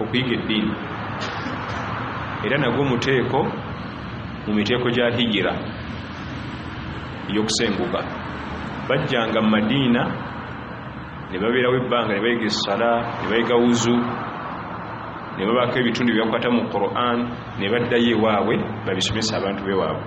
okuyiga eddiini era nagwo muteeko mu miteeko gya hijira eyokusenguka bajjanga mu madiina ne babeerawo ebbanga ne bayiga essala ne bayiga wuzu ne babaako ebitundu byebakwata mu quran ne baddayo ewaabwe babisomesa abantu bewaabwe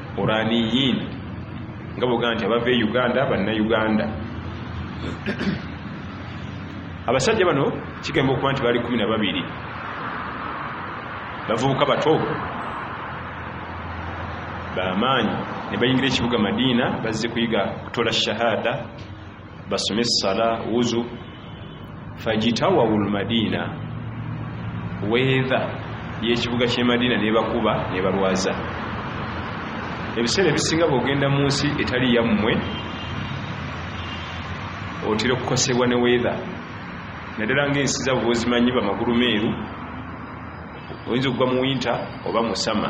uraniyin nga bwogaa nti abava e uganda bannayuganda abasajja bano kigamba okuba nti bali kumi na babiri bavubuka bato bamaanyi ne bayingira ekibuga madiina bazze kuyiga kutola shahada basome sala wuzu fajitawawu lmadiina weedha yekibuga kyemadiina nebakuba nebalwaza ebiseera ebisinga bwogenda mu nsi etali yammwe otera okukosebwa ne weedha naddala ngaensi zabo bozimanyi bamagulu meeru oyinza okugwa mu winta oba musama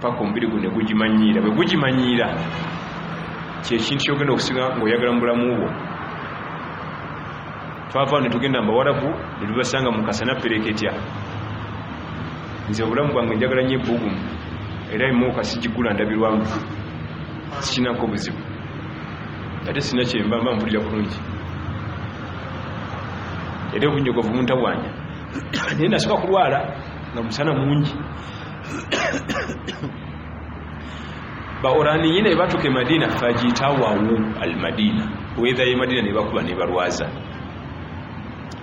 paka omubiri gu negugimanyiira bwe gugimanyiira kyekintu kyogenda okusinga ngaoyagala mu bulamu bwo twava netugenda mbawarabu netubasanga mukasana pereketya nze obulamu bwange njagala nyo ebugumu era emoka sigigula ndabirwamu sikinako buzibu ate sina kyemba mba mpulira bulungi era obunyogovu muntabwanya naye nasoka kulwala nga musana mungi baoraniyi ne batuka e madina fajitawawu al madina wetha ye madina ne bakuba ne balwaza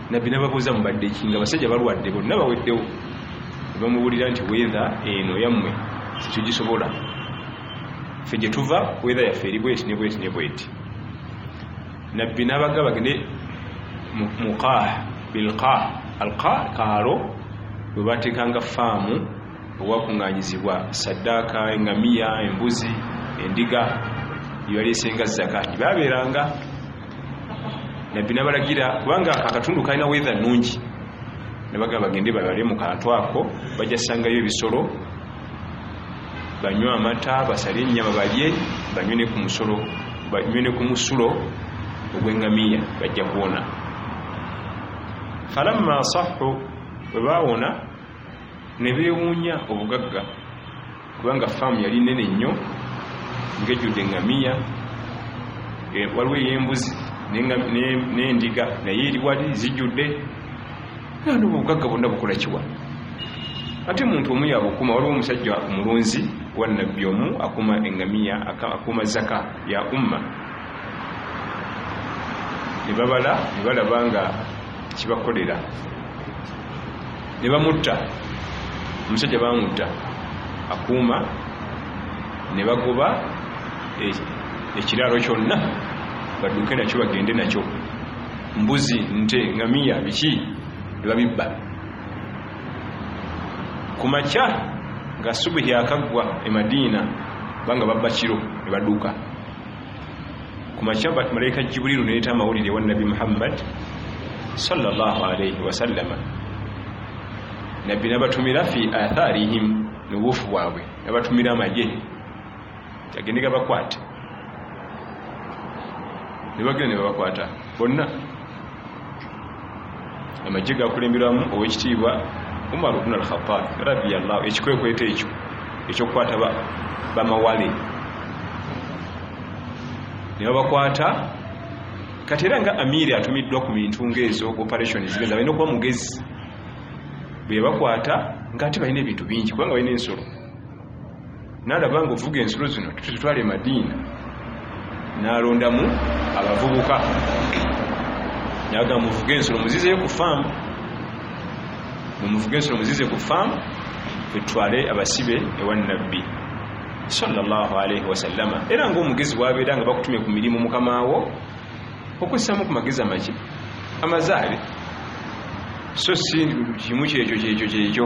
nabbi nababuuza mubadde ki nga basajja balwadde bonna baweddewo ne bamubuulira nti wetha eno yammwe tetugisobola fe gye tuva wetha yaffe eri bweti ne bweti ne bweti nabbi n'abagga bagende muqah bilqah alqa kaalo bwe bateekanga faamu owakuŋŋanyizibwa saddaaka engamiya embuzi endiga yeyaleesenga zaka gyebabeeranga nabbi nabalagira kubanga akatundu kalina weather nungi nabaga bagende babale mu kantu ako bajja sangayo ebisolo banywe amata basale ennyama balye banywe ne ku musolo banywe ne ku musulo ogw'engamiya bajja kuwona falamma sahu bwe baawona ne beewuunya obugagga kubanga faamu yali nene nnyo ngejjudde engamiya e, waliwo ey'embuzi n'endiga naye eri wali zijjudde nandi obugagga bonna bukola kiwa ate muntu omu yabukuma waliwo omusajja omulunzi wanabbi omu akuma engamiya akuma zaka ya umma nebabala nebalaba nga kibakolera nebamutta omusajja bamutta akuuma nebagoba e, ekiraalo kyonna badduke nakyo bagende nakyo mbuzi nte ngamiya biki nebabibba ku makya nga subuhi akaggwa e madiina banga babba kiro nebaduka ku makya malaika jiburilu neyeta amawulire wa nabbi muhammad salllah alaihi wasallama nabbi nabatumira fi atharihim nobuufu bwabwe nabatumira amagye agende gabakwate nebagenda nebabakwata bonna amagye gakulemberamu owekitiibwa umar bn alkhatab radiallah ekikwekweto ekyo ekyokukwata bamawale nebabakwata kati era nga amiri atumiddwa ku bintu ngaezo operation zigeza balina okuba mugezi bwebakwata nga ate balina ebintu bingi kubanga balina ensolo nalaba nga ovuga ensulo zino tutwala emadiina nalondamu abavubuka naga muvuge ensulo muzizeyo ku faamu mumuvuge ensulo muzize ku faamu etwale abasibe ewa nabbi salllahalaihi wasallama era ngaomugezi wabeera nga bakutumye ku mirimu mukamawo okusamu ku magezi amaki amazaale so si kimu kyekyo kyekyo kyekyo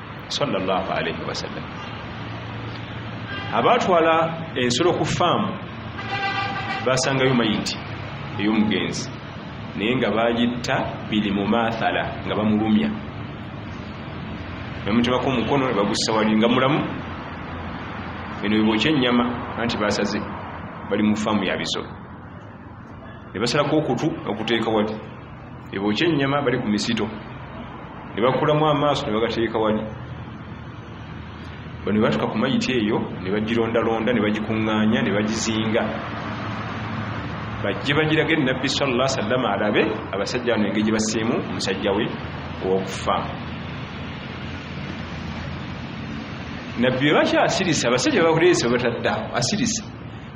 sallallahu alaihi wasallam abaatwala ensolo ku faamu basangayo mayiti ey'omugenzi naye nga bagitta biri mu maathala nga bamulumya nemutemako omukono nebagussa wali nga mulamu eno bibokya ennyama anti basaze bali mu faamu ya bisolo ne basalako okutu bakuteeka wali ne bookya ennyama bali ku misito ne bakulamu amaaso ne bagateeka wali bano batuka ku mayiti eyo ne bagirondalonda ne bagikuŋŋaanya ne bagizinga bajje bagiraga enabbi salla sallama alabe abasajja bano engeri gye basiimu omusajja we owokufa nabbi webaki asirisa abasajja bakuleesa webatadde awo asirisa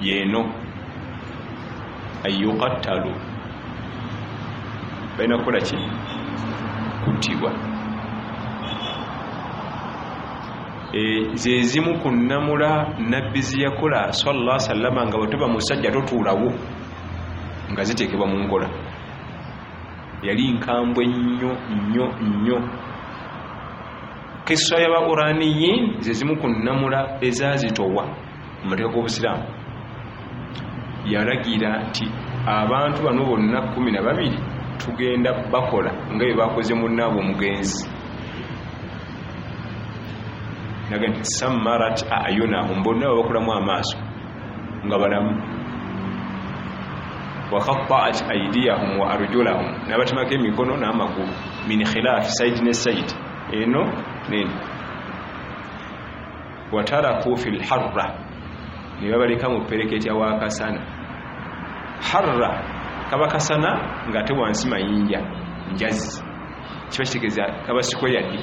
yeno ayuqattalu balina kukola ki kuttibwa e, zezimu ku nnamula nabbi ziyakola salla sallama nga bwetoba musajja totuulawo nga ziteekebwa mu nkola yali nkambwe nnyo nnyo nnyo kissa ya bauraniyin ze zimu ku nnamula ezazitowa mu mateeka g'obusiraamu yalagira nti abantu bano bonna kumi na babiri tugenda bakola nga bye bakoze munnaabwe omugenzi naga nti samarat ayunahum bonna babakulamu amaaso nga balamu wakataat aidiyahum wa arjulahum nabatemako emikono n'amagulu min khilaafi saidi ne saidi eno neno wataraku fi lharra nebabaleka mu pereketya wakasana harra kaba kasana nga ate wansi mayinja njazi kiba kitegeza kaba sikweyadde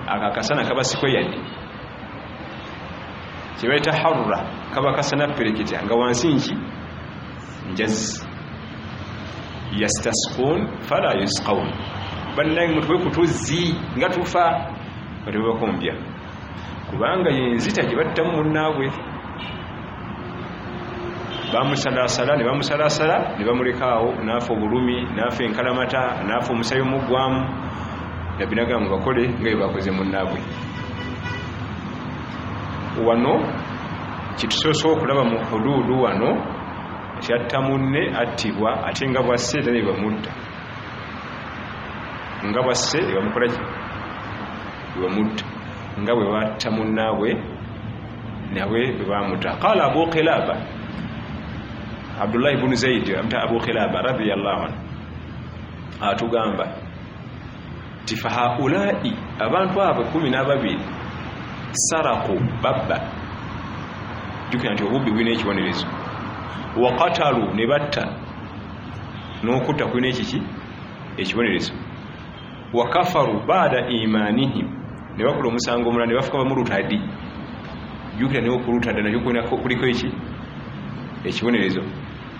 akakasana kaba sikweyadde kyebaita harra kaba kasana pereketya nga wansi nki njazi yastasqun fala yusqaun bannange mutuwe ku tuzzi nga tufa nga tebabakombya kubanga yenzita gye battamu munnaabwe bamusalasala ne bamusalasala ne bamulekaawo naafa obulumi naafa enkalamata naafa omusayi omuggwamu nabbi nagamba mubakole nga bye bakoze munnaabwe wano kitusoose okulaba mu huduudu wano nti atta munne attibwa ate nga bwasse era ne bamutta nga bwasse ne bamukola ki ne bamutta nga bwe batta munnaabwe nawe bwe bamuta qala abu kilaba abdullahi bunu zaidi amuta abu kilaba radiallahu anhu atugamba ti fahaulai abantu abo kumi nababiri saraku babba jukira nti obubbi bulina ekibonerezo wakatalu ne batta n'okutta kulina ekiki ekibonerezo wakafaru baada imanihim ne bakola omusango omulala ne bafuka bamulutadi jukira naye okulutada nakyo kuliko eki ekibonerezo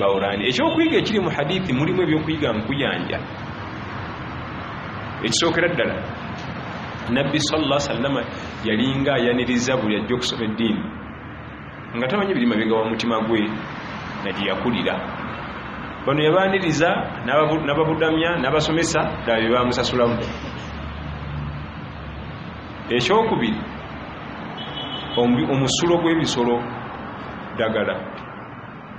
bawurani ekyokuyiga ekiri mu hadithi mulimu ebyokuyiga nkuyanja ekisookera ddala nabbi salla sallama yalinga ayaniriza buli ajja okusoma eddiini nga tamanyi biri mabega wa mutima gwe nagiyakulira bano yabaniriza nababudamya nabasomesa ddala byebamusasulamu ekyokubiri omusulo gw'ebisolo ddagala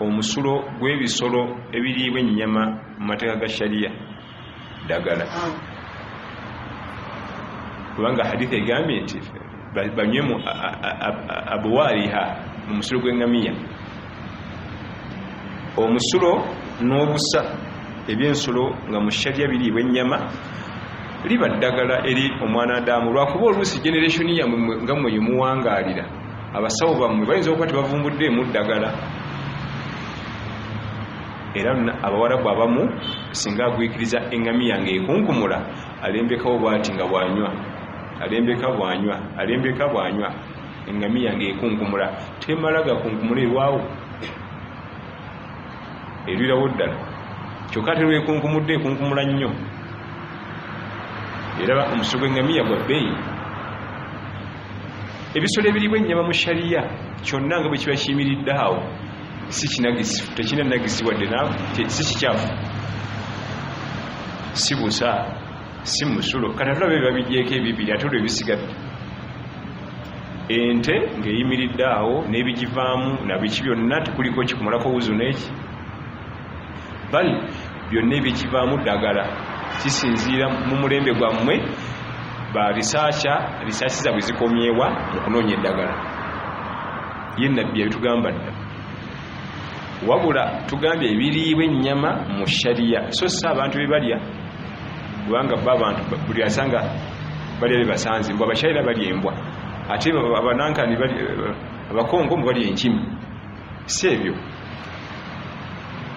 omusulo gw'ebisolo ebiriibwa ennyama mu mateeka ga shariya ddagala kubanga haditha egambye nti banywe mu abwaliha mu musulo gw'engamiya omusulo n'obusa ebyensolo nga mu shariya biriibwa ennyama liba ddagala eri omwana adaamu lwakuba oluusi generationi yamwe nga mweyo muwangaalira abasawo bammwe bayinza okuba tebavumbudde emu ddagala era abawarabu abamu singa agwikiriza engamiya nga ekunkumula alembekawo bwati nga bwanywa alembeka bwanywa alembeka bwanywa engamiya nga ekunkumula temala gakunkumula erwawo erwirawo ddala kyokka terwekunkumudde ekunkumula nnyo era omusu gw'engamiya gwa bbeeyi ebisolo ebiriibwa ennyama mu shariya kyonna nga bwe kiba kiyimiridde awo si kinagisi tekina nagisi wadde si kikyafu si busa si musulo kata tulaba bye babigyeko ebibiri ate olwo ebisigadde ente ng'eyimiridde awo n'ebigivaamu nabiki byonna tekuliko kikumalako wuzu n'eki bal byonna ebyekivaamu ddagala kisinziira mu mulembe gwammwe ba risaakya risaaki zabwe zikomyewa mu kunoonya eddagala ye nabbi yabitugamba dda wabula tugambye ebiriibwa ennyama mu shariya so si abantu bebalya kubanga bo abantu buli asanga balya bebasanze mbw abashaira balya embwa ate abanankani abakongo mbu balya enkimi si ebyo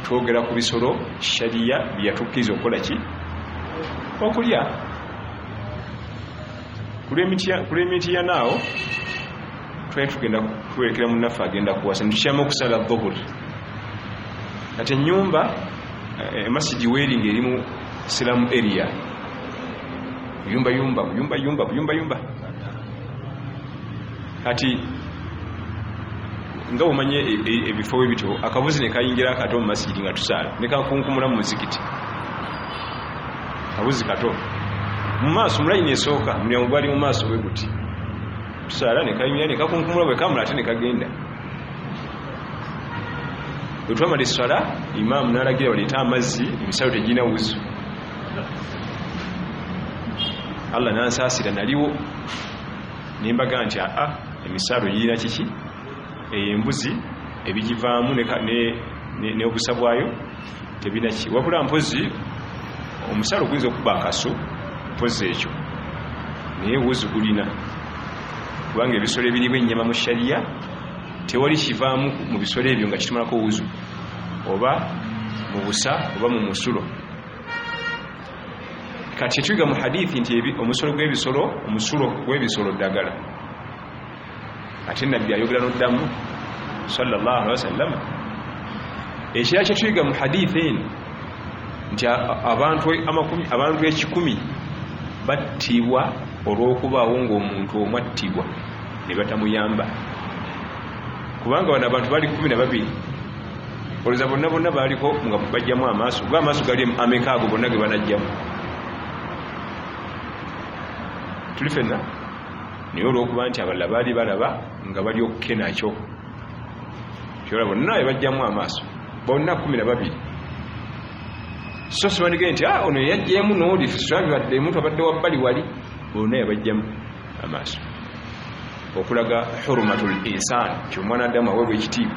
twogera ku bisolo shariya byeyatukkiriza okukola ki okulya kulwemitiyanaawo twali tugenda kuwerekera munaffe agenda kuwasa nitukyama okusala dhuhuri kati enyumba eh, emasigi weringa erimu silamu area yumba yumba yumba yumba yumba yumba kati nga omanye e, e, ebifo we bityo akabuzi ne kayingira akato mu masijidi nga tusaala ne kakunkumula mu muzikiti kabuzi kato mu maaso mulayini esooka mulyango gwali mu maaso bwe guti tusaala ne kayingira ne kakunkumula bwe kamula ate ne kagenda bwe twamala esswala imaamu n'alagira baleete amazzi emisalo tegirina wuzu allah nansaasira naliwo nembaga nti aa emisaalo girina kiki eyo embuzi ebigivaamu n'obusa bwayo tebina ki wabula mpozi omusaalo guyinza okuba akaso mpozi ekyo naye wuzi gulina kubanga ebisolo ebiriba ennyama mu shariya tewali kivaamu mu bisolo ebyo nga kitumalako wuzu oba mu busa oba mu musulo kati tuyiga mu hadithi nti omusolo gwebisolo omusulo gwebisolo ddagala ate nabbi ayogera noddamu salllah alihi wasallama ekira kyetuyiga mu hadithi eno nti abantu ekikumi battibwa olw'okubaawo ng'omuntu omwattibwa ne batamuyamba kubanga bano abantu bali kumi na babiri olowooza bonna bonna baaliko nga bajjamu amaaso ga amaaso gali ameka ago bonna ge banajjamu tuli fenna naye olwokuba nti abalala baali balaba nga bali okukenakyo kyola bonna ebajjamu amaaso bonna kumi na babiri so sibandigee nti ah, ono yeyajjemu nooli sirabibaddemu twabadde wabbali wali bonna yabajjamu amaaso okulaga hurumatul insani nti omwana adamu awebwa ekitiibwa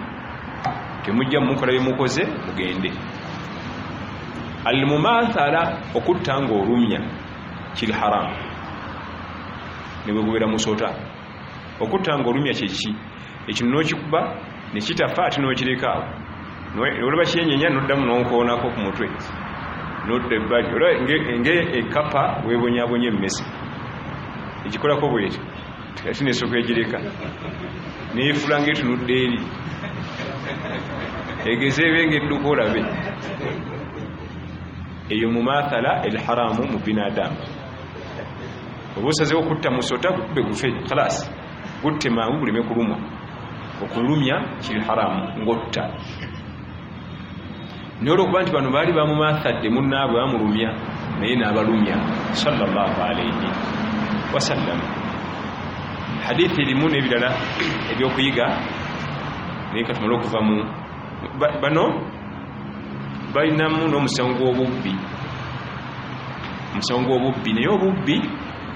temujja mumukola byemukoze mugende almumathala okutta nga olumya kiri haramu nebwegubeera musota okutta nga olumya kyeki ekino nokikuba nekitafa ate nokirekaawo olaba kyenyenya noddamu nonkoonako ku mutwe nodda ebbali olaba nga ekapa webonyabonya emmese ekikolako bwekyo yafuna esoko egireka neyefula nga etunudde eri egeze ebe nga edduka olabe eyo mumathala elharamu mu binadamu oba osazewo kutta musota gukube gufe kalas gutte mangu guleme kulumwa okulumya kiri haramu ngotta naye olwokuba nti bano baali bamumathadde munaabwe bamulumya naye nabalumya salllahalaihi wasallam hadithi erimu nebirala ebyokuyiga naye katumale okuva mu bano balinamu n'omusango gw'obubbi omusango gw'obubbi naye obubbi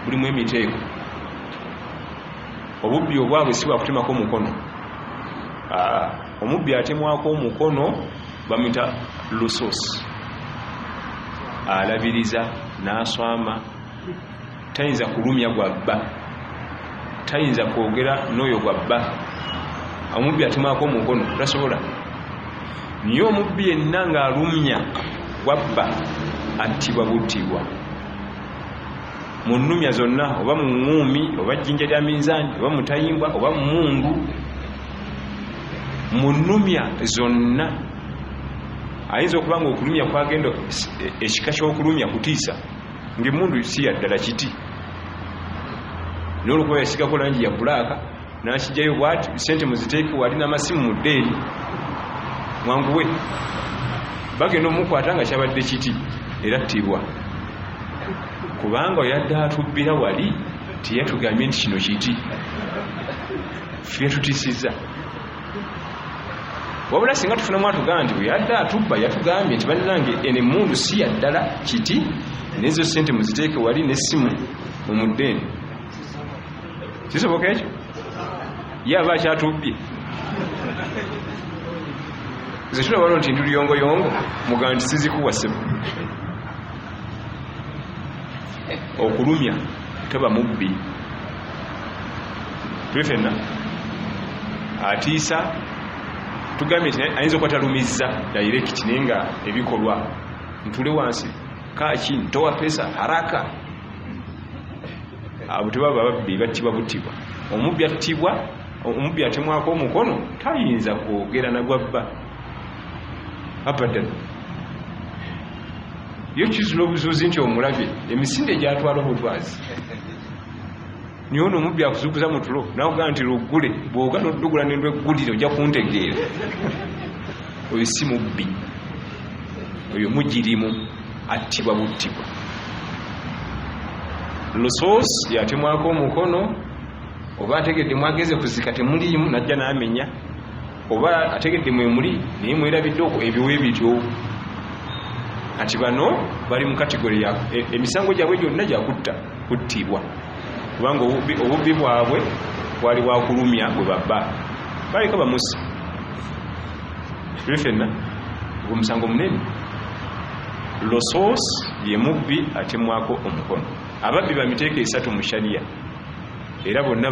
bulimu emiteeko obubbi obwabwe si bwakutemako omukono omubbi atemwako omukono bamuyita lusus alabiriza naswama tayinza kulumya gwa bba tayinza kwogera n'oyo gwa bba omubbi atemwako omukono tasobola naye omubbi yenna ng'alumya gwa bba attibwa buttibwa mu nnumya zonna oba mu ŋŋuumi oba jjinja lya minzaani oba mutayimbwa oba mumundu mu nnumya zonna ayinza okuba nga okulumya kwagenda e, ekika ky'okulumya kutiisa ngaemundu si yaddala kiti nolwokuba yasigako langi ya bulaaka nakijayo bwati sente muziteeke wali namasimu mu ddeeri mwanguwe bagenda omukwata nga kyabadde kiti era ttibwa kubanga oyadde atubbira wali teyatugambye nti kino kiti byetutisiza wabula singa tufunamu atugamba nti weyadde atubba yatugambye nti bannange eno emundu si yaddala kiti nezo sente muziteeke wali nesimu mumuddeeni kisoboka ekyo ye aba akyatubbye zetulabano nti nduliyongoyongo mugamba nti sizikuwa sebo okulumya teba mubbi tuli fenna atiisa tugambye nti ayinza okuba talumizza direct naye nga ebikolwa ntule wansi kaki ntowa pesa haraka abo tebaba babbi battibwa buttibwa omubbi attibwa omubbi atemwako omukono tayinza kwogera nagwabba abadan yo kizula obuzuuzi nti omulabye emisinde gyatwala obutwazi naye ono omubbi akuzukuza mu tulo nakugaa nti luggule bwoga nodugula nendw eggulire ojja kuntegeera oyo si mubbi oyo mugirimu attibwa buttibwa lusos yatemwako omukono oba ategedde mwageze kuzika temuliimu najja namenya oba ategedde mwemuli naye mwerabidde okwo ebyo webityo kati bano bali mu kategori ya e, emisango gyabwe gyonna gyakutta kuttibwa kubanga obubbi bwabwe bwali bwakulumya bwe babba baleka bamusi tuli fenna ogwo musango munene losos ye mubbi atemwako omukono ababbi bamiteeka esatu mu shariya era bonna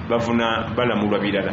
bavuna balamulwa birala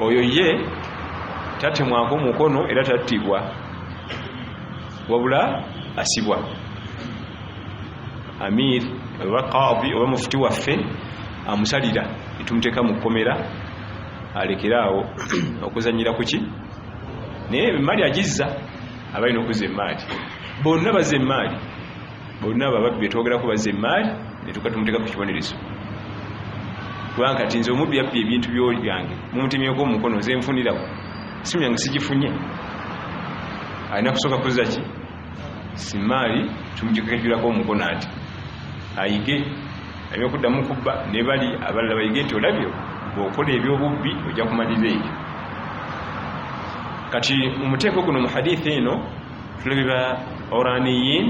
oyo ye tatemwako mukono era tattibwa wabula asibwa amir oba qadi oba mufuti waffe amusalira etumuteeka mu kkomera alekere awo okuzanyira kuki naye emaali agizza abalina okuzza emaali bonna bazza emaali bonna abo ababbi betwogerako bazza emmaali netuka tumuteeka ku kibonerezo kubanga kati nze omubbi yabbi ebintu byange mumutemyeko omukono nze nfunirawo simu yange sigifunye alina kusooka kuzza ki simaali tumujikekejulako omukono ati ayige alina okuddamu kubba ne bali abalala bayige nti olabyo bwokola ebyobubbi ojja kumalira ebyo kati omuteeko guno mu hadithi eno tulabe ba oraniyin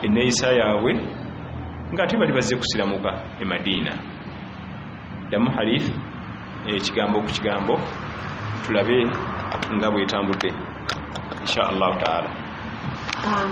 eneyisa yaabwe nga ate bali bazze kusiramuka e madiina damu harif ekigambo ku kigambo tulabe nga bwetambudde insha allahu taala um,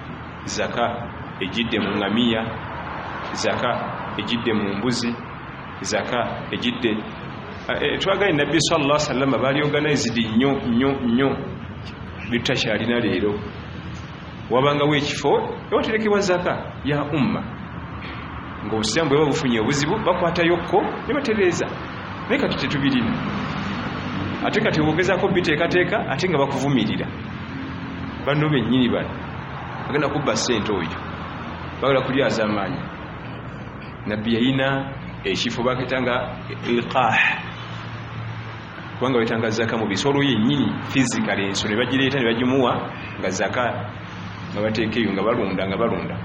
zaka ejidde mu ngamiya zaka ejidde mu mbuzi zaka ejidde eh, eh, twagale nabbi salla salama bali organized nnyo nnyo nnyo byetutakyalina leero wabangawo ekifo ewaterekebwa zaka ya umma ngaobusiramu bweba bufunye obuzibu bakwatayokko nebatereeza naye kati tetubirina ate kati ogezako biteekateeka ate nga bakuvumirira banno bennyini bano agenda kubba ssente oyo bagala kulyazamaanya nabbi yayina ekifo bakita nga ilqah kubanga wetanga zaka mu bisolo yennyini fizikal ensolo nebagireeta nebagimuwa nga zaka nga bateeka eyo nga balunda nga balunda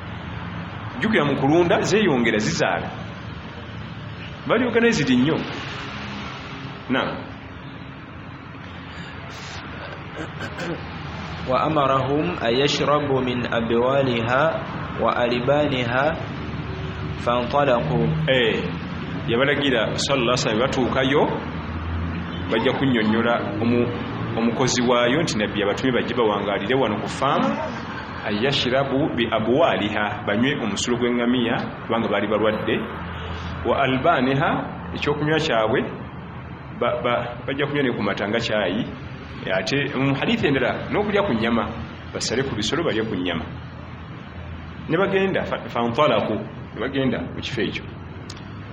jukira mu kulunda zeyongera zizaala bali organized nnyo na wa amarahum an yashrabu min abwaliha wa alibaniha fantalaqu eh yabalagira sallallahu alaihi wasallam batuukayo bajja kunyonyola omu omukozi waayo nti nabbi abatume bajje bawangalire wano ku faamu ayashirabu bi abwaliha banywe omusulo gw'engamiya kubanga baali balwadde wa albaniha ekyokunywa kyabwe bajja kunywa ne kumata nga kyayi ate mu hadithi endala n'okulya ku nyama basale ku bisolo balye ku nyama ne bagenda fantalaku ne bagenda mu kifo ekyo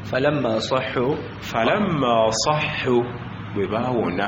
falamma sahu falamma sahu bwe baawona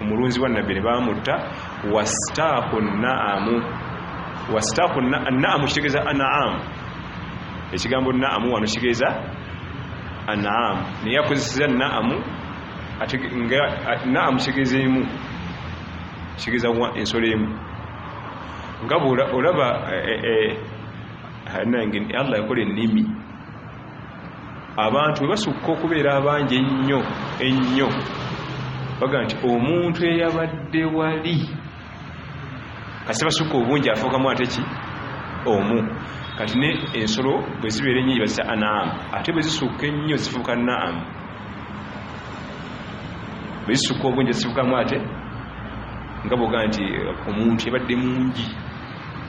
omulunzi wa nabbi ne baamutta wastaaku naamu wastaaku naamu kitegeeza anaamu ekigambo naamu wano kitegeeza anaamu naye akozeseza naamu naamu kitegeeza emu kitegeeza ensolo emu nga olaba eh, eh, eh, nange allah yakola ennimi abantu bwe basukka okubeera abangi ennyo ennyo baga nti omuntu eyabadde wali kasi basukka obungi afuukamu ate ki omu kati ne ensolo bwe zibeera ennyo gibazisa anaamu ate bwe zisukka ennyo zifuuka naamu bwe zisukka obungi zifuukamu ate nga boga nti omuntu yabadde mungi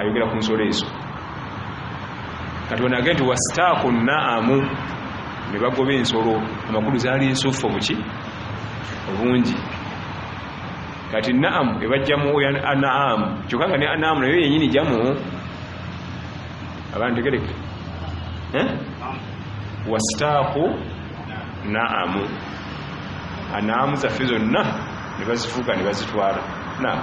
ayogera ku nsolo ezo kati onage nti wastaaku naamu ne bagoba ensolo amakulu zaali nsuffu buki obungi kati naamu ebajjamu anaamu kyokka nga ne anaamu nayo yenyini jamu abantu tegereke eh? wastaaku naamu anaamu zaffe zonna ne bazifuuka ne bazitwala naamu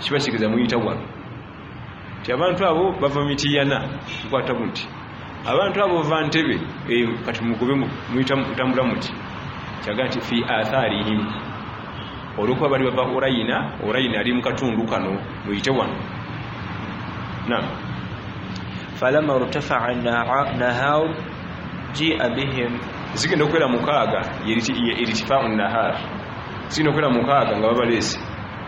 kiba kigeza muyita wano ti abantu abo bava mitiyana mukwata muti abantu abo bava ntebe eh, kati mugube muyitambula muti kyaga nti fi atharihim olwokuba bali bava orayina orayina ali mukatundu kano muyite wano nam falama rtafaa nahar jia bihim zigenda okubeera mukaaga eritifau nahar zigenda okubeera mukaaga nga babaleese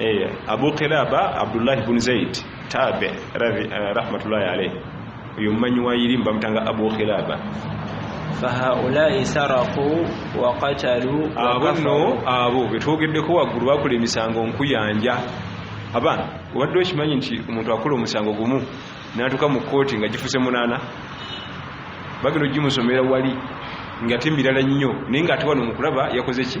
eh, abu kilaba abdullahi bun zaid tabe eh, rahmatullahi alaihi uyu mmanyi wa yirimu bamutanga abu kilaba fahaulai saraku wakatalu abo no abo betwogeddeko waggulu bakola emisango nkuyanja abaana obadde okimanyi nti omuntu akola omusango gumu natuuka mu kooti nga gifuse munaana bagenda ogimusomera wali ngate mirala nnyo naye ngaate wano mukulaba yakoze ki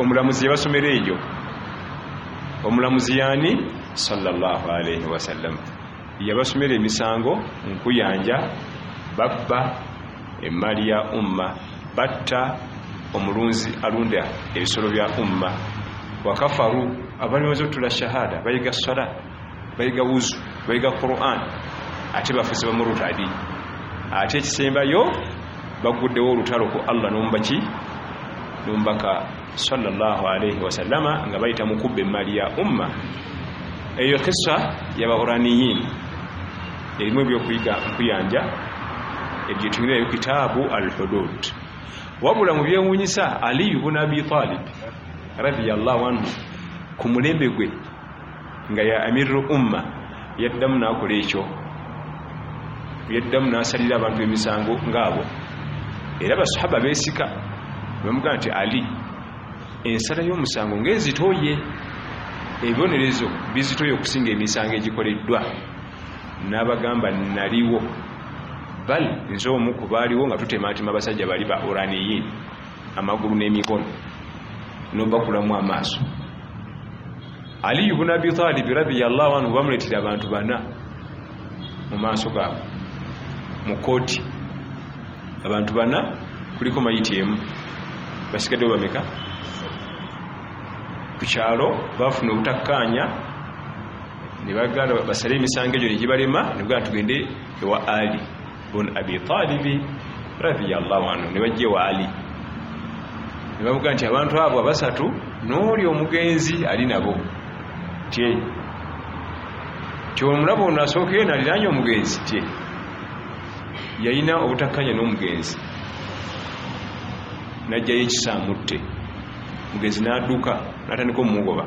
omulamuzi yabasomera eyo omulamuzi yani sallallahu alaihi wasallam yabasomera emisango nkuyanja babba emmali ya umma batta omulunzi alunda ebisolo bya umma wakafaru abali maze otula shahada bayiga sala bayiga wuzu bayiga quran ate bafuzi bamurutadi ate ekisembayo bagguddewo olutalo ku allah n'omubaki n'omubaka salllah alaihi wasallama nga bayita mu kubba emmaali ya umma eyo kisa yabahuraniyin erimu ebyokuyiga nkuyanja ebyetunyirayo kitaabu al hudud wabula mu byewunyisa aliyu buna abi talib radiallahu anhu ku mulembe gwe nga ya amirru umma yaddamu n'akola ekyo yaddamu n'asalira abantu emisango ng'abo era basahaba beesika bamugamba nti ali ensala y'omusango ng'ezitoye ebibonerezo bizitoye okusinga emisango egikoleddwa n'abagamba naliwo bal nze omu ku baaliwo nga tutematema abasajja bali ba uraniyin amagulu n'emikono nobakulamu amaaso aliyu buna abitalibi radiyallahu anhu bamuletera abantu bana mu maaso gaabwe mu kooti abantu bana kuliko mayiti emu basigadde bameka ku kyalo bafuna obutakkaanya nebaganda basale emisango egyo negibalema nebuganda tugende ewa ali bun abi talibi radiyallahu anhu ne bajja ewa ali ne bavuga nti abantu abo abasatu n'oli omugenzi ali nabo tye tyomulaba ono asookeyo naliranye omugenzi tye yalina obutakkanya n'omugenzi najjayo ekisamutte mugenzi n'adduka natandika omumugoba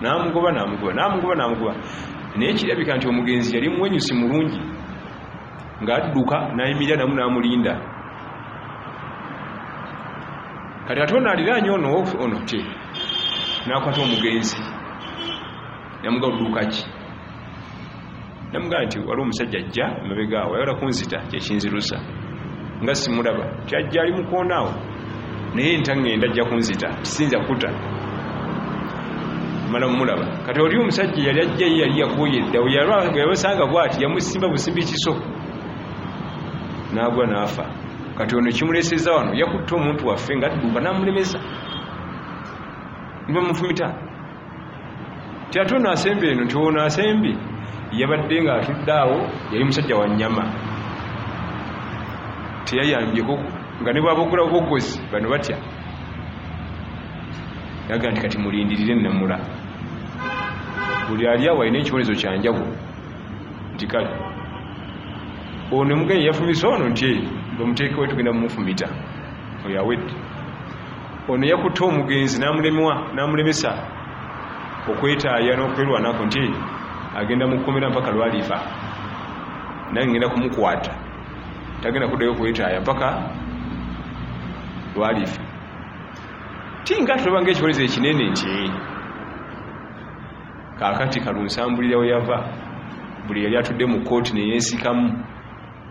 namugoba namugoba namugoba namugoba naye kirabika nti omugenzi yali muwenyusi mulungi ng'adduka nayimirira namu namulinda kati ate ono aliraanye ono ono te nakwata omugenzi namuga oduukaki namugamba nti waliwo omusajja ajja emabegaawo ayagala kunzita kyekinzirusa nga simulaba kyajja ali mukoonaawo naye ntangenda ajja kunzita kisinza kuta mala mulaba kati oli omusajja yali ajja ye yali yakoye eddawo yabasanga bwati yamusimba busimbi kiso nagwa naafa kati ono kimuleseza wano yakutte omuntu waffe nga adduka namulemesa nibamufumita tiate ono asemba eno nti ono asembye yabadde nga atudde awo yali musajja wa nyama teyayambyeko nga ne bwabogula obogozi bano batya yaga nti kati mulindirire namula buli ali awo alina ekibonezo kyanjawo nti kale ono omugenyi yafumise ono nti bamuteekewo tugenda mumufumita oyo awedde ono yakutte omugenzi namulemwa namulemesa okwetaaya n'okwerwanako nti agenda mukomera mpaka lwalifa nange ngenda kumukwata tagenda kuddayo okwetaaya mpaka lwalifa ti nga tulaba nga ekibonezo ekinene nti kakati kalunsambulira weyava buli yali atudde mu kooti neyensikamu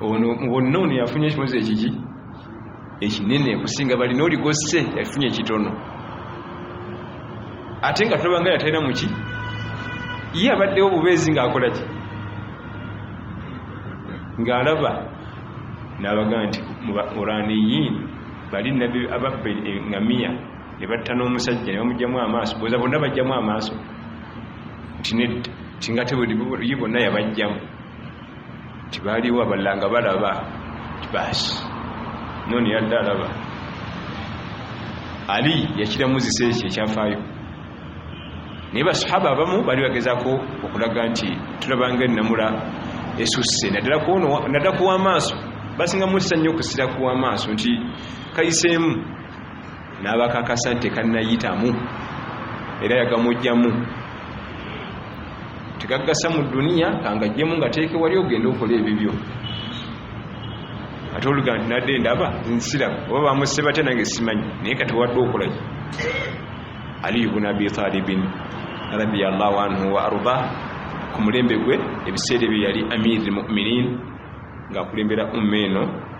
ono mubonna ono yafunye ekibonezo ekiki ekinene okusinga bali noligosse yafunye ekitono ate nga tulabanga yatalina muki ye abaddewo bubeezi ngaakolaki ngaalaba nabaga nti mubaquraniyin bali nabbi ababbe engamiya ne batta n'omusajja ne bamugjamu amaaso boza bonna bajjamu amaaso nti nedda tinga tebuli bonna yabajjamu nti baaliwo abalala nga balaba baasi noni yadde alaba ali yakiramuzisa ekyo ekyafaayo naye basahaba abamu bali bagezako okulaga nti tulabanga enamula esusse naddala kuwamaaso basinga mussa nnyo okusira kuwamaaso nti kayiseemu n'abakakasa nti tekannayitamu era yagamugyamu tegaggasa mu duniya kangajjemu nga teeke wali ogenda okola ebibyo ate oluga nti nadde ndaba nsiraba oba bamusse batya nange simanyi naye kati wadde okolaki aliyu buna abi talibin radiallahu anhu wa arda ku mulembe gwe ebiseera ebyo yali amiri muminin ng'akulembera umma eno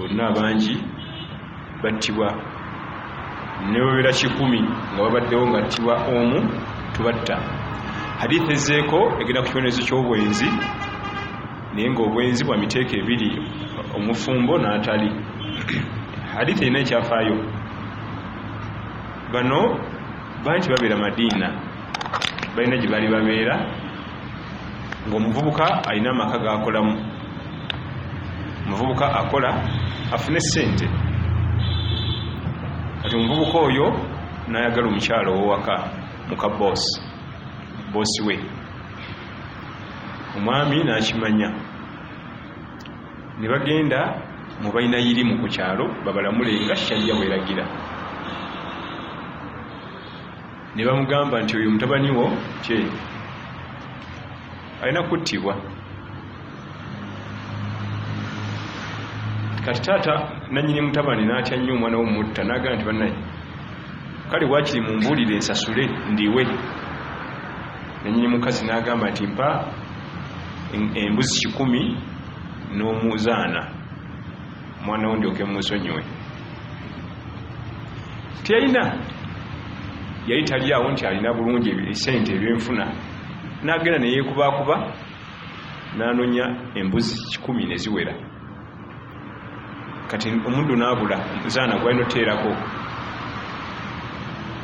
olina abangi battibwa nebabera kikumi nga babaddewo nga ttibwa omu tubatta hadithi ezeeko egenda ku kibonerezo ky'obwenzi naye ngaobwenzi bwa miteeko ebiri omufumbo n'atali hadithi erina ekyafaayo bano bangi babeera madiina balina gye bali babeera ng'omuvubuka alina amaka g'akolamu omuvubuka akola afune ssente kati omuvubuka oyo n'ayagala omukyalo owowaka muka boosi boosi we omwami n'akimanya ne bagenda mu balina yirimu ku kyalo babalamule nga shariya bweragira ne bamugamba nti oyo mutabani wo kye alina kuttibwa kati taata nanyini mutabani natya nnyo omwana womutta nagamba nti banaye kale wakiri mumbuulire ensasule ndiwe nanyini mukazi nagamba nti mpa embuzi kikumi n'omuzaana mwana wo ndyoke mumusonyiwe teyalina yali talyawo nti alina bulungi esente ebyenfuna nagenda neyekubakuba nanonya embuzi kikumi neziwera kati omuddu nabula zaana gwalina oteerako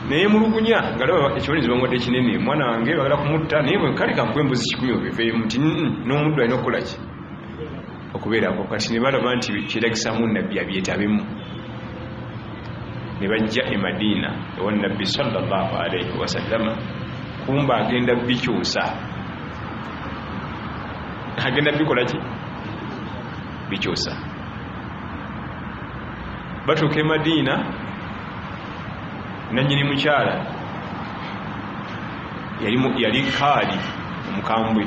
naye mulugunya nga laba ekibonezo bamwadde kinene mwana wange bagala kumutta naye kale kankuba embuzi kikumi obiveemu nti nomuddu alina okukolaki okubeerako kati ne balaba nti kyetagisamu nabbi abyetabemu ne bajja e madiina ewa nabbi salllah alaihi wasallama kumba agenda bikyusa agenda bikola ki bikyusa batuuka e madiina nanyini mukyala yali kaali omukambwe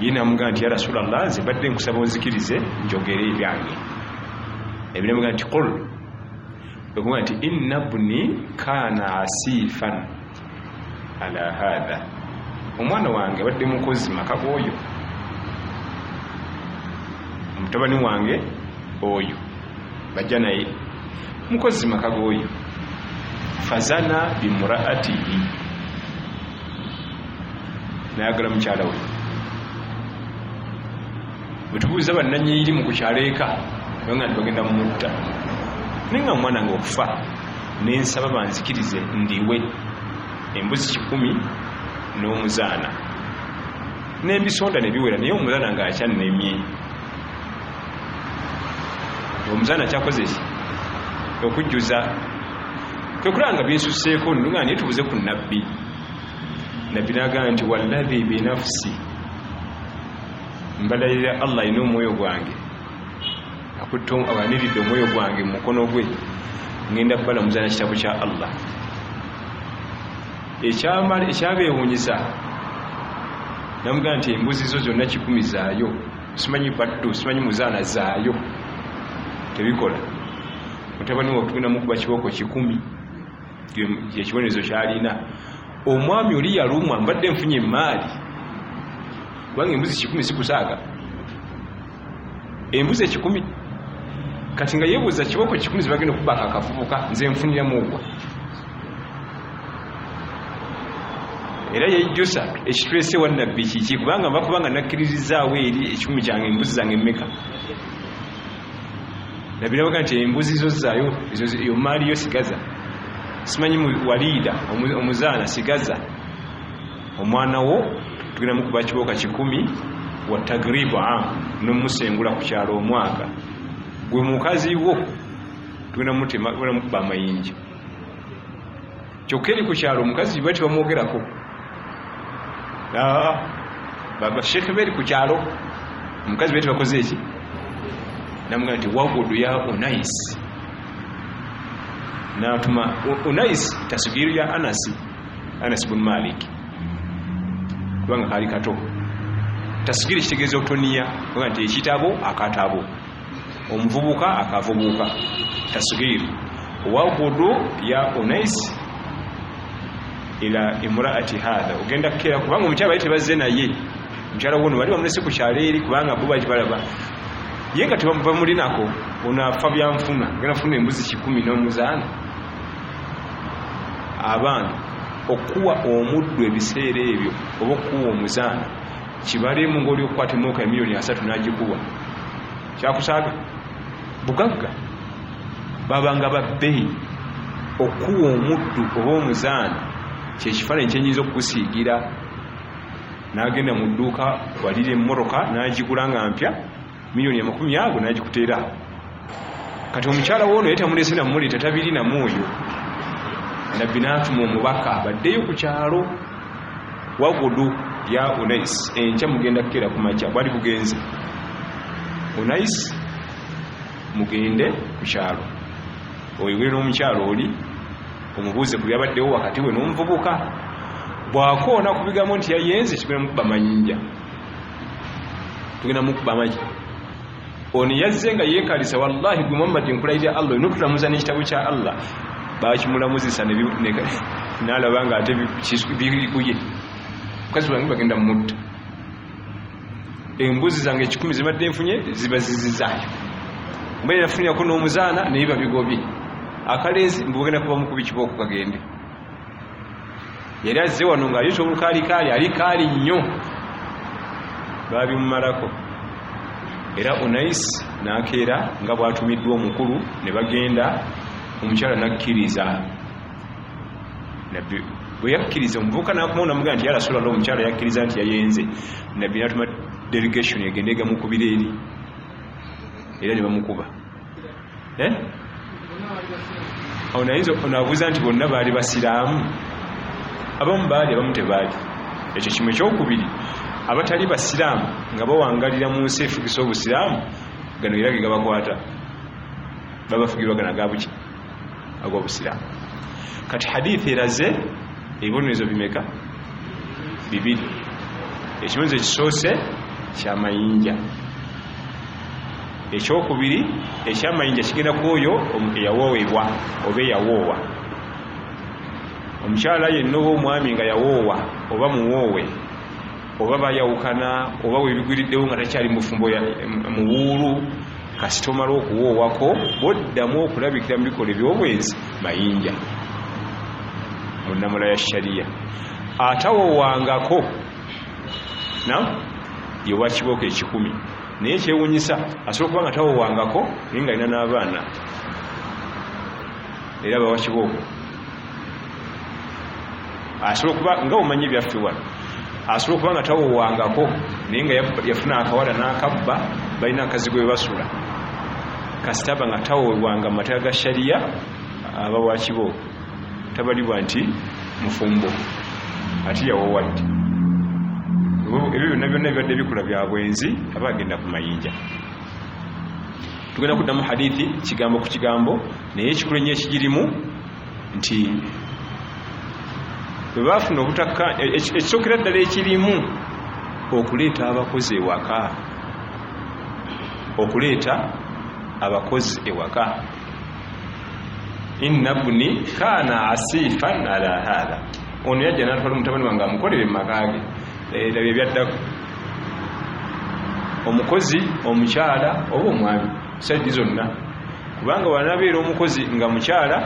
ye namugamba nti ya rasulallah nze mbadde nkusaba onzikirize njogere ebyange ebinamugamba nti qul okuga nti inna bni kana asifan ala hatha omwana wange abadde mukozi maka goyo omutabani wange oyo bajja naye mukozi maka goyo fazana bimuraatihi nayagala mukyala we bwetubuuza bannanyiri mu kukyalo eka nga nti bagenda mumutta naye nga mumwana nga okufa nensaba banzikirize ndiwe embuzi kikumi n'omuzaana nembisonda nebiwera naye omuzaana nga akyannemye omuzaana kyakoze ki okujjuza kwekulaba nga binsuseeko nga naye tubuze ku nabbi nabbi nagamba nti wallahi binafsi mbalalira allah alina omwoyo gwange akutte awaniridde omwoyo gwange mu mukono gwe ngenda kubalamuza na kitabo kya allah ekyabeewunyisa namugamba nti embuzi zo zonna kikumi zaayo simanyi baddu simanyi muzaana zaayo tebikola mutabani watugenda mukuba kibooko kikumi kyekibonerezo kyalina omwami oli yalumwa mbadde nfunye emaali kubanga embuzi kikumi sikusaaga embuzi ekikumi kati nga yebuuza kiboko kikumi zebagenda okubaka akavubuka nze nfunira mugwa era yejjusa ekitulese wa nabbi kiki kubanga nva kubanga nakkiririzaawo eri ekikumi kyange embuzi zange emeka nabirabaga nti embuzi zo zaayo yomaaliyo sigaza simanyi waliida omuzaana sigaza omwana wo tugenda mukuba kibooka kikumi wa tagribu am nomusengula ku kyalo omwaka gwe mukazi wo tugenda mutema tugenda mukuba amayinja kyokka eri ku kyalo omukazi bati bamwogerako ah, babasheke beri ku kyalo omukazi bati bakoze eki namuga nti wagudu ya unais natuma unais tasigiru ya anasi anas bun malik kubanga kaali kato tasgiri kitegeeza obutoniya oga nti ekitabo akatabo omuvubuka akavubuka tasgiri wagudu ya unais ila imraati hatha ogenda kukera kubanga omukyala bali tebazze naye omukyala wono bali bamulese ku kyalo eri kubanga bo baki balaba ye nga tebamulinako ono afa byanfuna ogenda funa embuzi kikumi nomuzaana abaana okukuwa omuddu ebiseera ebyo oba okukuwa omuzaana kibalemu ngaoli okukwata emooka emiliyoni asatu nagikuwa kyakusaaga bugagga babanga babbeyi okukuwa omuddu oba omuzaana kyekifaananyi kyenyinza okukusiigira nagenda mu dduuka walira emmotoka nagigula nga mpya miliyoni amakumi ago nagikuteera kati omukyala woono ye tamulese namuleeta tabiri namu oyo nabbi natuma omubaka baddeyo ku kyalo wagudu ya unais enkya mugenda kukeera ku makya bwali bugenze unais mugende ku kyalo oyogere n'omukyalo oli omubuuze ku byabaddewo wakati we n'omuvubuka bwakoona ku bigambo nti yayenze kigenda mukuba manyinja tugenda mukuba amagi ono yazze nga yekalisa wallahi gwe muhammad nkulayirira allah olina okutulamuza n'ekitabo kya allah bakimulamuzisa nalaba nga ate bikuye mukazi wange bagenda mumutta embuzi zange ekikumi zibadde nfunye zibazizizaayo mbeera nafunirako n'omuzaana naye babigobye akalenzi mbugenda kuba mukubi kibooko kagende yali azze wano nga ayusa olukalikaali ali kaali nnyo baabimumalako era unais nakeera nga bwatumiddwa omukulu ne bagenda omukyala nakkiriza nabbi bwe yakkiriza omuvubuka nakumawo namugamba nti yarasulalla omukyala yakkiriza nti yayenze nabbi natuma delegation egende egamukubira eri era ne bamukuba eh? awo nayinza onabuuza nti bonna baali basiraamu abamu baali abamu tebaali ekyo kimu ekyokubiri abatali basiraamu nga bawangalira mu nsi efugisa obusiraamu gano era ge gabakwata babafugirwa gana gabuki agobusiraamu kati hadithi eraze ebibonerezo bimeka bibiri ekibonerezo ekisoose kyamayinja ekyokubiri ekyamayinja kigenda ku oyo eyawoowebwa oba eyawoowa omukyala yenna oba omwami nga yawoowa oba muwoowe oba bayawukana oba webigwiriddewo nga takyali mufumbo muwuulu kasita omala okuwoowako boddamu okulabikira mu bikola ebyobwenzi mayinja mu nnamula ya shariya atawoowangako na yewakibooko ekikumi naye kyewunyisa asobola okuba nga tawowangako naye nga alina n'abaana era bawa kibooko asobola okuba nga omanyi ebyaffe wano asobola okuba nga tawowangako naye nga yafuna akawala n'akabba balina akazi gwe basula kasitaba nga tawowanga mu mateeka ga shariya aba wakibooko tabalibwa nti mufumbo ati yawowadde ebyo byonna byonna bibadde bikula bya bwenzi aba agenda ku mayinja tugenda kuddamu hadithi kigambo ku kigambo naye ekikulu ennyo ekigirimu nti bwe baafuna obutakka e, e, ekisookera ddala ekirimu okuleeta abakozi ewaka okuleeta abakozi ewaka inna bni kana asifan ala hatha ono yajja natwala omutabani wange amukolere mumakage era eh, byebyaddako omukozi omukyala oba omwami saidi zonna kubanga wanabeera omukozi nga mukyala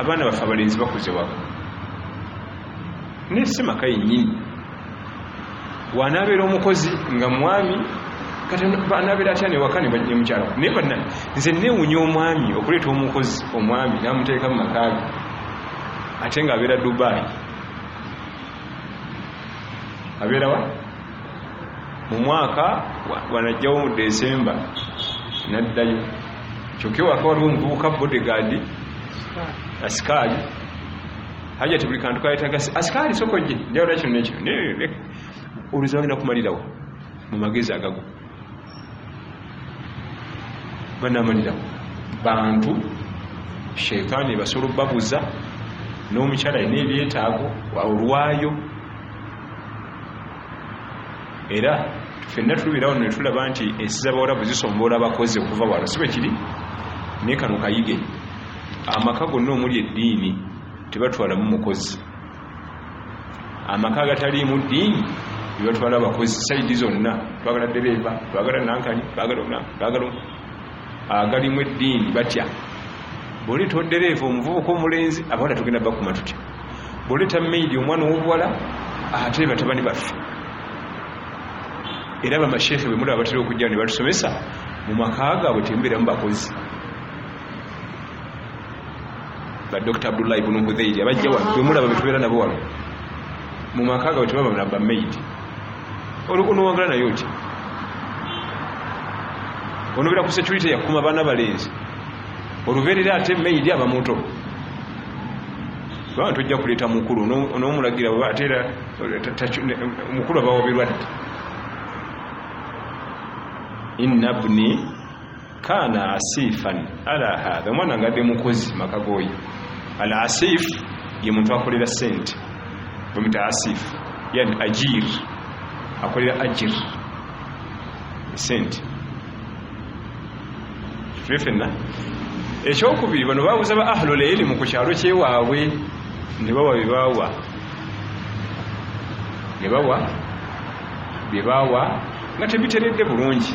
abaana baffe abalenzi bakuze wako naye si maka yenyini wanabeera omukozi nga mwami anabeera atya newaka nemukyala naye bana nze newunya omwami okuleeta omukozi omwami namuteeka mu makaage ate nga abeera dubai abeerawa mu mwaka wanajjawo mu desemba naddayo kyokka ewaka waliwo omuvubuka bodegaadi asikaali hajati buli kantu kayetaga asikaali sokoje njawula kino nekino oluzi bagenda kumalirawo mu magezi agago banamalirawo bantu sheitaani ebasobola obabuza n'omukyala alina ebyetaago olwayo era fenna tulubeerawo no netulaba nti ensi zabawarabu zisomboola abakozi okuva wano si bwe kiri naye kano kayige amaka gonna omuli eddiini tebatwalamu mukozi amaka agataliimu ddiini bebatwala abakozi saidi zonna twagala dereeva twagala nankani twagala agalimu eddiini batya bwoleeta odereeva omuvubuka omulenzi abawala tugenda bakuma tutya bwoleeta maidi omwana owobuwala ate batabani baffe era bamasheekhe bemulaba batera okujja ne batusomesa mu maka gaabwe temubeeramu bakozi ba dr abdullah ibunu hudhairi abajja wano bemulaba betubeera nabo wano mu maka gabwe tebaba na bamaid olukunowagala naye oti onobeera ku security yakuma baana balenzi olubeerera ate maid aba muto kubanga tojja kuleeta mukulu onomulagira oba ate era mukulu abawa birwadde inna bni kana asifan ala hadha omwana ngade mukozi makagoyi al asif ye muntu akolera sente bamita asif yani ajir akolera ajir sente tuli fenna ekyokubiri bano babuza ba ahlul ilimu ku kyalo kyewaabwe ne bawa byebawa ne bawa byebawa nga tebiteredde bulungi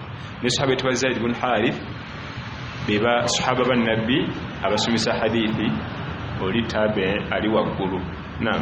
ne sahaba etuba zaid bun harith beba sahaba ba nabbi abasomesa hadithi oli tabe ali waggulu naam